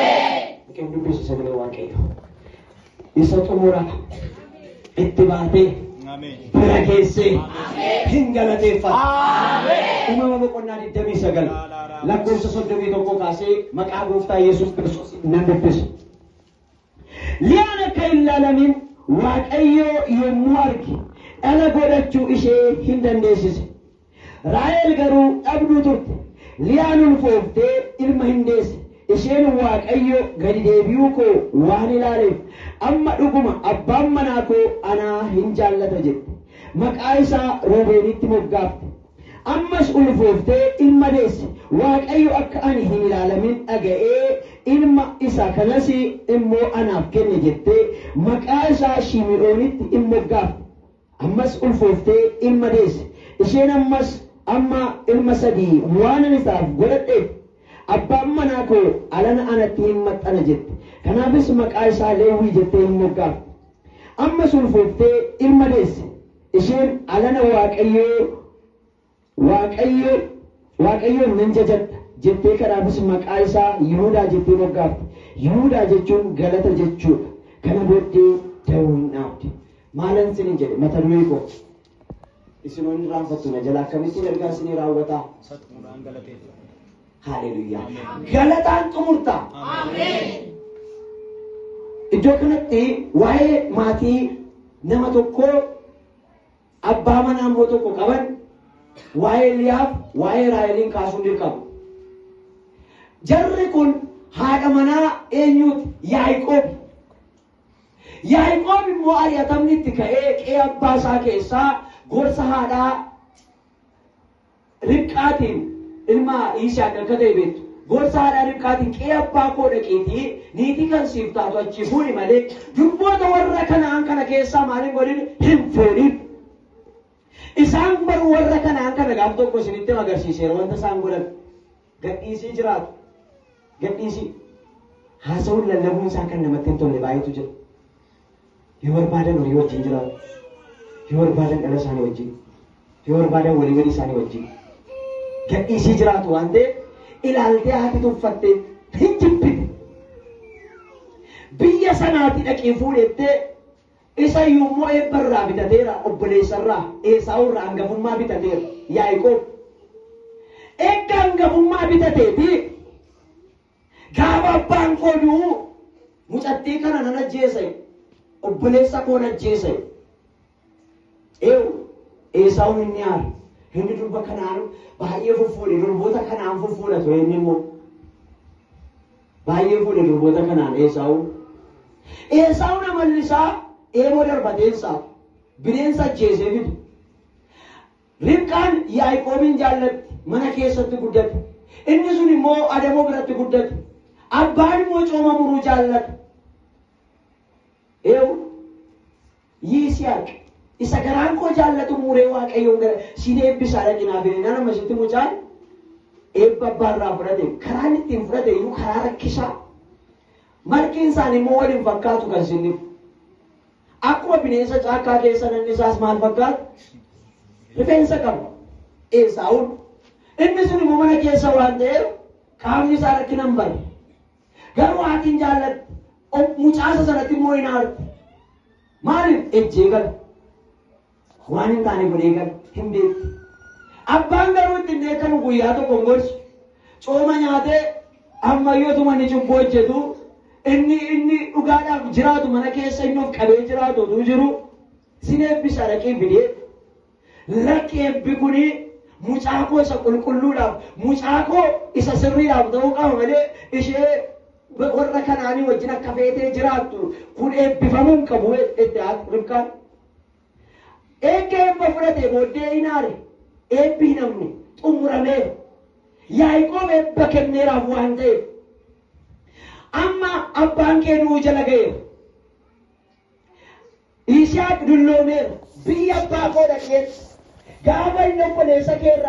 Waaqayyoon dubbisi sagalee Waaqayyoo. Isa xumura itti baatee bira keessee hin galateeffata. Uumama boqonnaa 29 lakkoofsa 31 kaasee maqaa gooftaa Yesuus Kiristoos nan dubbisa. Liyaan akka hin laalamiin Waaqayyoo yommuu arge dhala godhachuu ishee hin dandeessise. Raahel garuu dhabduu turte. Liyaan ulfooftee ilma hin deesse. Isheen Waaqayyo gadi deebi'uu koo waan ilaaleef, amma dhuguma abbaan manaa koo ana hin jaallata jette. Maqaa isaa Ruubeenitti moggaafte. Ammas ulfooftee ilma deesse. Waaqayyo akka ani hin ilaalamin dhaga'ee ilma isa kanas immoo anaaf kenne jettee maqaa isaa Shimi'oonitti in moggaafte. Ammas ulfooftee ilma deesse. Isheen ammas amma ilma sadii waanan isaaf godhadheef, abbaan manaa koo alana anatti hin maxxana jette. Kanaafis maqaa isaa Lewwii jettee in moggaafte. Ammas ulfooftee ilma deesse. Isheen alana Waaqayyoo. Waaqayyo, Waaqayyoon nan jajadha jettee kanaafis maqaa isaa Yihudaa jettee moggaafte. Yihudaa jechuun galata jechuu dha. Kana booddee da'oo in dhaabde. Maalan isiniin jedhe? Mata duree koo Isin hoo hin irraanfattu na jalaa akkamittiin ergaa isinii raawwata? Isa xumuraan galateeffadha. Haaleluyyaa! Ameen. Galataan xumurta. Iddoo kanatti waa'ee maatii nama tokkoo Abbaa manaa immoo tokko qaban waa'ee Liyaaf waa'ee Raaheliin kaasuun dirqama. Jarri kun haadha manaa eenyuuti? Yaaqoob. Yaaqoob immoo ari'atamni itti ka'ee qe'ee abbaa isaa keessaa gorsa haadhaa Ribqaatiin ilma Yisaaq akka ta'e beektu. Gorsa haadha Ribqaatiin qe'ee abbaa koo dhaqiitii niitii kan siif taatu achii fuudhi malee durboota warra Kana'aan kana keessaa maal hin godhin hin fuudhin. Isaan baruu warra Kana'aan kana gaaf tokko isinitti agarsiiseera wanta isaan godhan. Gadhiisii jiraatu. Gadhiisii. Haasawuun lallabuun isaa kan namatti hin tolle baay'eetu jira. Yoo barbaadan horii wajjin jiraatu, yoo barbaadan dhala isaanii wajjin, yoo barbaadan walii walii isaanii wajjin gadhiisii jiraatu waan ta'eef ilaaltee haati tuffattee hin jibbine. Biyya sanaati dhaqii fuudhettee isa iyyuu immoo eebba irraa bitateera obboleessa irraa Eesaawuu irraa hangafummaa bitateera Yaaqoob. Eegga hangafummaa bitateeti Gaafa abbaan koo du'u mucattii kana nan ajjeese obboleessa koon ajjeese. Eewu Eesaawun inni aare inni durba kanaan baay'ee fuffuudhe durboota kanaan fuffuudha ture inni immoo baay'ee fuudhe durboota kanaan Eesaawun. Eesaawun amalli isaa eeboo darbateensaa bineensa ajjeesee fide. Ribqaan Yaaqoobiin jaallatti, mana keessatti guddate. Inni sun immoo adamoo biratti guddate. Abbaan immoo cooma muruu jaallata. Eewu Yisihaaq isa garaan koo jaallatu muree Waaqayyoon gara siin eebbisaa dhaqinaa fi nana masitti mucaan eebba abbaa irraa fudhate karaan ittiin fudhate iyyuu karaa rakkisaa marqiin isaanii immoo waliin fakkaatu kan sinniif. Akkuma bineensa caakkaa keessa nanni isaas maal fakkaata? Rifeensa qaba. Eesaawun. Inni sun immoo mana keessa waan ta'eef qaamni isaa rakkina hin barre. Garuu haati hin jaallatti. Mucaasa sanatti immoo hin aarti. Maaliif? Ejjee gala. Waan hin taane godhee gala hin beekti. Abbaan garuu itti hin dheekkamu guyyaa tokko hin gorsu. Cooma nyaatee ammayyoo tuma inni cubbuu hojjetu inni inni dhugaadhaaf jiraatu mana keessa inni of qabee jiraatu utuu jiru sin eebbisa dhaqee bidee lakki eebbi kuni mucaa koo isa qulqulluudhaaf mucaa koo isa sirriidhaaf ta'uu qaba malee ishee warra kanaanii wajjin akka feetee jiraattu kun eebbifamuu hin qabu itti haati ribqaan. Eegga eebba fudhatee booddee in aare, eebbi hin hafne, xumurameera. Yaaqoob eebba kenneeraaf waan ta'eef. Amma abbaan kee du'uu jala ga'eera. Yisihaaq dulloomeera. Biyya abbaa koo dhaqeen gaafa inni obboleessa kee irraa